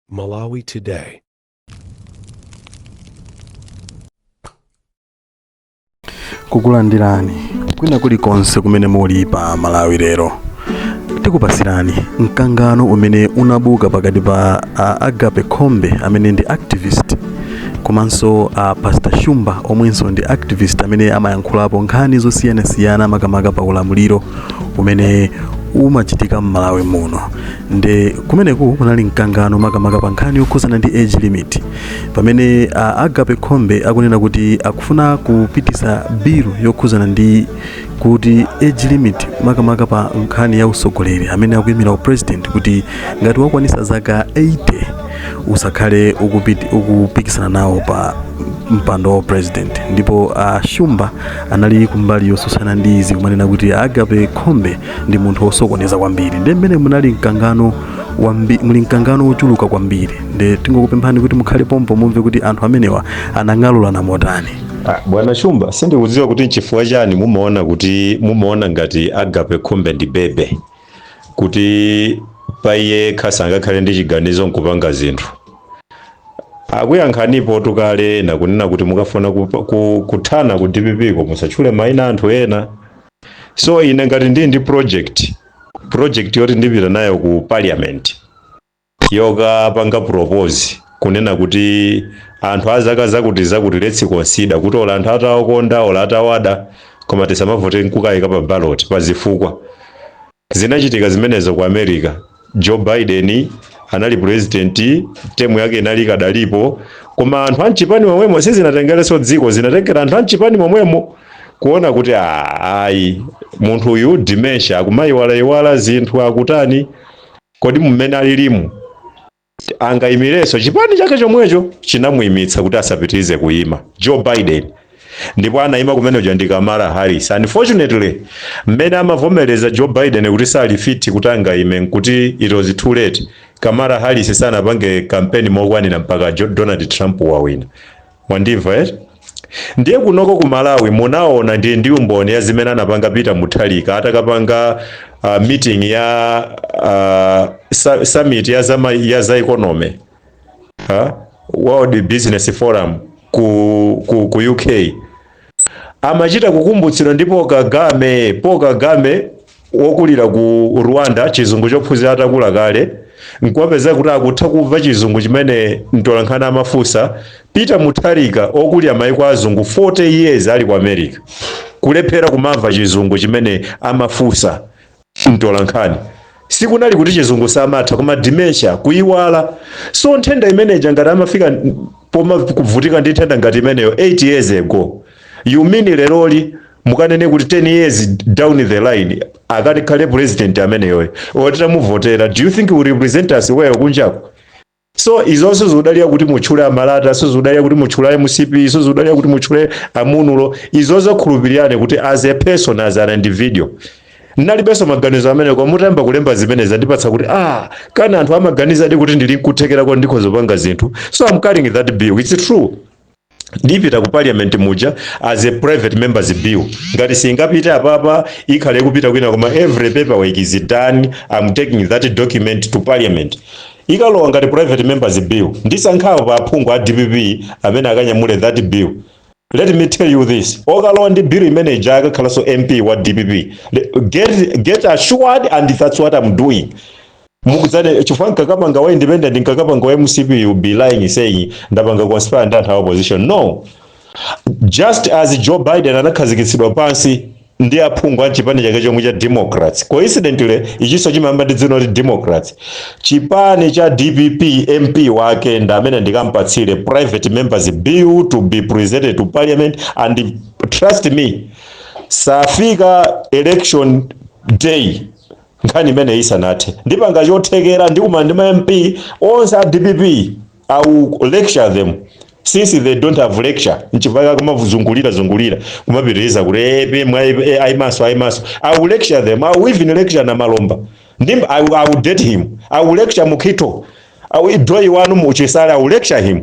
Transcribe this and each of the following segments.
Malawi Today. kukulandirani kwina kulikonse kumene muli pa malawi lero tikupasirani mkangano umene unabuka pakati pa a agape khombe amene ndi activist komanso a pastor shumba omwenso ndi activist amene amayankhulapo nkhani zosiyanasiyana makamaka pa ulamuliro umene umachitika m'malawi muno nde kumeneku kunali mkangano makamaka pa nkhani yokhuzana ndi age limit pamene uh, agape khombe akunena kuti akufuna kupitisa bilu yokhuzana ndi kuti age limit makamaka pa nkhani ya usogoleri amene akuyimira upresident kuti ngati wakwanisa zaka 80 usakhale ukupikisana nawo pa mpando wa upresident ndipo a shumba anali kumbali yosusana ndi izi kumanena kuti agape khombe ndi munthu wosokoneza kwambiri nde mmene munali mkangano wambi, muli mkangano wochuluka kwambiri nde tingokupemphani kuti mukhale pompo mumve kuti anthu amenewa anang'alulana motani Ah, bwana shumba sindikudziwa kuti nchifukwa chani mumaona kuti mumaona ngati agape khombe ndi bebe kuti pa iye yekha sangakhale ndi chiganizo nkupanga zinthu akuyankhanipo tukale na kunena kuti mukafuna kupa- ku- kuthana ku dpp ko musatchule maina anthu ena so ine ngati ndili ndi project project yoti ndipita nayo ku parliament yokapanga propose kunena kuti anthu a zaka zakuti zakuti let's consider kuti ola anthu atawakonda ola atawada koma tisamavote nkukayika pa ballot pa zifukwa zinachitika zimenezo ku america joe biden anali president temu yake inali ikadalipo koma anthu amchipani momwemo sizinatengereso dziko zinatengera anthu amchipani momwemo kuona kuti "Ah, ayi munthu uyu dementia akumayiwalayiwala zinthu akutani Kodi mmene alilimu angaimirenso? Chipani chake chomwecho chinamuimitsa kuti asapitirize kuima, Joe Biden, ndipo anaima kumene kuja ndi Kamala Harris. Unfortunately, mmene amavomereza Joe Biden kuti sali fit kuti angaime n'kuti it was too late. Kamala Harris sanapange campaign mokwanira mpaka Donald Trump wawina. mwandimva eti? Ndiye kunoko ku Malawi munaona ndili ndi umboni wa zimene anapanga Peter Mutharika atakapanga uh, meeting ya uh, su- summit ya za, ya za economy ha? World Business Forum ku, ku, ku UK amachita kukumbutsidwa ndi Paul Kagame. Paul Kagame wokulira ku Rwanda, chizungu chophunzira atakula kale, nkumapezeka kuti akutha kumva chizungu chimene mtolankhani amafunsa. Peter Mutharika okulira maiko azungu 40 years ali ku America, kulephera kumamva chizungu chimene amafunsa mtolankhani sikunali kuti chizungu samatha koma dementia kuyiwala so nthenda imeneja ngati amafika n- pomakavutika ndi nthenda ngati imeneyo 8 years ago you mean leroli mukanene kuti 10 years down the line akakhale president ameneyoyo oti titamuvotera do you think will represent us well kunjako so izonso zikudalira kuti mutchule amalata sizikudalira kuti mutchule mcp sizikudalira kuti mutchule amunulo izozo khulupirirani kuti as a person as an individual ndinalibenso maganizo amenewa mutayamba kulemba zimene zandipatsa kuti ah kani anthu amaganizadi kuti ndili nkuthekera koti ndikhoza kupanga zinthu so i'm carrying that bill it's true ndipita ku parliament muja as a private members bill ngati singapite apapa ikhale ikupita kwina koma every paperwork is done i'm taking that document to parliament ikalowa ngati private members bill ndisankhapo pa aphungu a dpp amene akanyamule that bill let me tell you this okalowa ndi bill imene ija akakhalanso mp wa dpp Le- get, get assured and that's what i'm doing mukudziwa chifukwa nkakapanga wa independent nkakapanga wa mcp you be lying saying ndapanga conspire ndi anthu a opposition no just as joe biden anakhazikitsidwa pansi ndi aphungu a chipani chake chomwe cha democrats coincidentally ichinso chimayamba ndi dzina loti democrats chipani cha dpp mp wake ndi amene ndikampatsire private members bill to be presented to parliament and trust me sitifika election day nkhani imeneyi isanathe ndipanga chothekera ndikumana ndi ma mp onse a dpp i will lecture them since they don't have lecture nchifukwa chake kumazungulira zungulira kumapitiriza kuti apm ayimaso ayimaso i will lecture them i will even lecture namalomba ndi i will, I will date him i will lecture mukito A wi doi wanu mu chisale I will lecture him,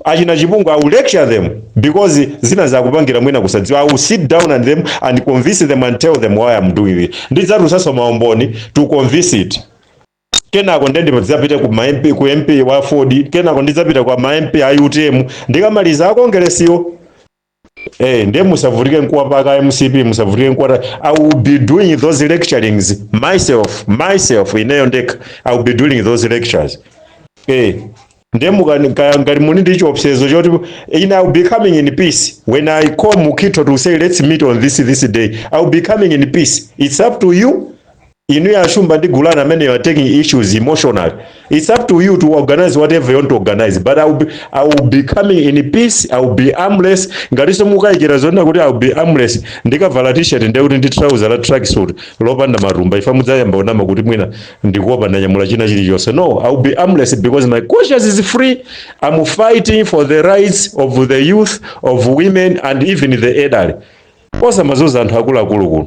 achina chipungu I will lecture them because zinazi akupangira mwina kusadziwa, I will sit down and them and convince them and tell them why am doing this, ndidzatulutsanso ma umboni to convince it. Kenako nde ndidzapite ku ma MP, ku MP wa aford, kenako ndidzapita kwa ma MP a utm, ndikamaliza a Kongeresiwo. Eh, ndiye musavutike nkuwapaka mcp musavutike nkuwata i will be doing those lecturings myself myself ineyo ndekha i will be doing those lectures eh, ndiye mukani- ka- ngati muli ndi chiopsezo choti in i will be coming in peace when i call mukito to say let's meet on this this day i will be coming in peace it's up to you Inu ya Shumba ndi Gulana amene you are taking issues emotionally it's up to you to organize whatever you want to organize but I will be, I will be coming in peace I will be armless ngatinso mukayikira zonena kuti I will be armless ndikavala t-shirt ndiye kuti ndi trouser la tracksuit lopanda matumba if mudzayamba kunama kuti mwina ndikuopa ndanyamula china chilichonse no I will be armless because my conscience is free I'm fighting for the rights of the youth of women and even the elderly osamazunza anthu akuluakulu kuno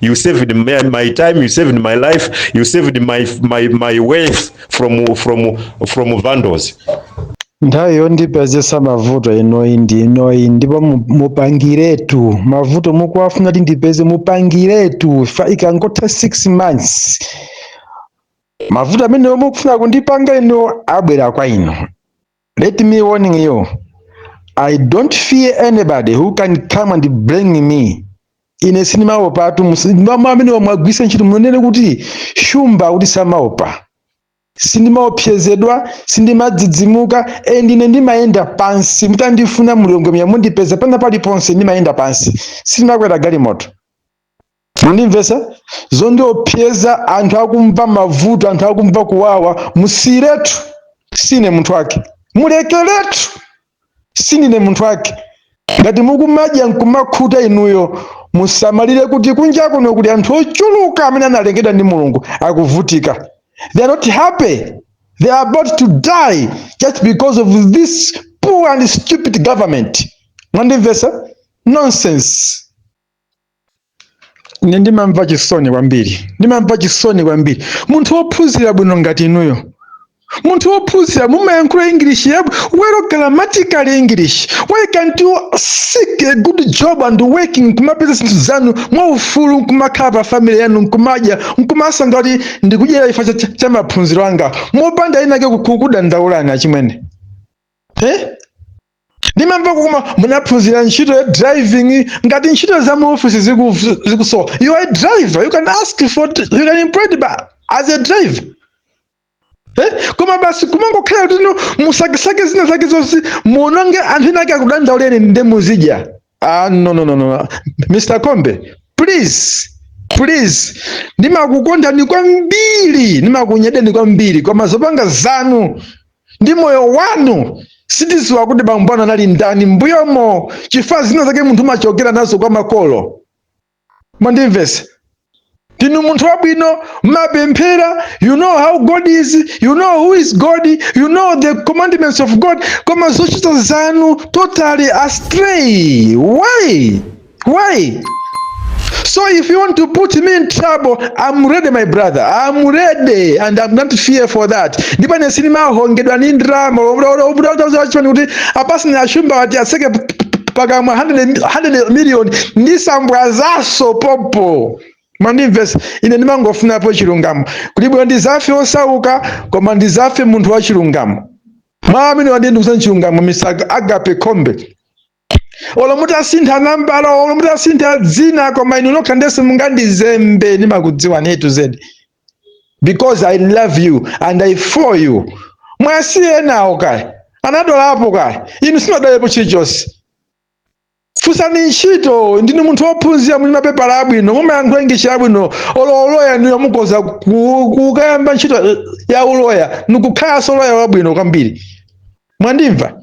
you saved my, my time you saved my life you saved my, my, my wealth from, from, from vandals nthawi yondipezetsa mavuto inoyi ndi inoyi ndipo mu- mupangiretu mavuto mukuwafuna kuti ndipeze mupangiretu fa ikangotha 6 months mavuto amene mukufuna kundipanga ine abwera kwa inu Let me warning you. I don't fear anybody who can come and blame me. Ine sindimaopatu mama amene mwagwiritsa ntchito muonere kuti shumba kuti samaopa. Sindimaopsezedwa, sindimadzidzimuka, and ine ndimayenda pansi. Mutandifuna mulungu mya mundipeza pena paliponse ndimayenda pansi. Sindimakwera galimoto. mwandimvetsa zondiopseza anthu akumva mavuto anthu akumva kuwawa musiyiretu si ine munthu wake mulekeretu sindine munthu wake ngati mukumadya nkumakhuta inuyo musamayiwale kuti kunja kuno kuli anthu ochuluka amene analengedwa ndi mulungu akuvutika they are not happy they are about to die just because of this poor and stupid government mwandimvetsa nonsense ine ndimamva chisoni kwambiri ndimamva chisoni kwambiri munthu wophunzira bwino ngati inuyo munthu wophunzira mumayankhula english yab well grammatical english why can't you seek a good job and working nkumapeza zinthu zanu mwaufulu nkumakhala pa family yanu nkumadya nkumasangalala kuti ndikudyera chifukwa cha, cha, cha maphunziro anga mopanda enaake kukudandaulani achimwene eh? ndimamvako koma munaphunzira ntchito ya driving ngati ntchito za mu office ziku- zikusowa you are a driver you can ask for you can employed by, as a driver Eh? koma basi kumangokhala kuti no musakisake zina zake zonse muononge anthu ena ake akudandauleni nde muzidya Ah, no, no, no, no. Mr. Kombe, please please ndimakukondani kwambiri ndimakunyadirani kwambiri koma zopanga zanu ndi moyo wanu sitidziwa kuti bambo anu anali ndani mbuyomo chifukwa zina zake munthu umachokera nazo kwa makolo mwandimvetsa ndinu munthu wabwino mumapemphera you know how god is you know who is god you know the commandments of god koma zochita zanu totally astray why why so if you want to put me in trouble i'm ready my brother i'm ready and i'm not fear for that ndipo ine sindimahongedwa ndi ndalama kuti apasina achumba ati aseke pakamwa 100 100 million ndisabwezanso popo mwandimvetsa ine ndimangofunapo chilungamo kuli bwino ndidzafe osauka koma ndidzafe munthu wa chilungamo mwa amene wandiendetsa chilungamo Mr. Agape Khombe olo mutasintha nambala olo mutasintha dzina koma inu nokha ndiye si mungandizembe ndimakudziwanitu zedi because i love you and I feel you muwasiye enawo kale anadwalapo kale inu simunadwalepo chilichonse funsani ntchito ndinu munthu wophunzira muli ndi mapepala abwino mumayankhula English yabwino olo uloya ndiyo mukhoza kukayamba ntchito ya uloya nikukhalanso uloya wabwino kwambiri mwandimva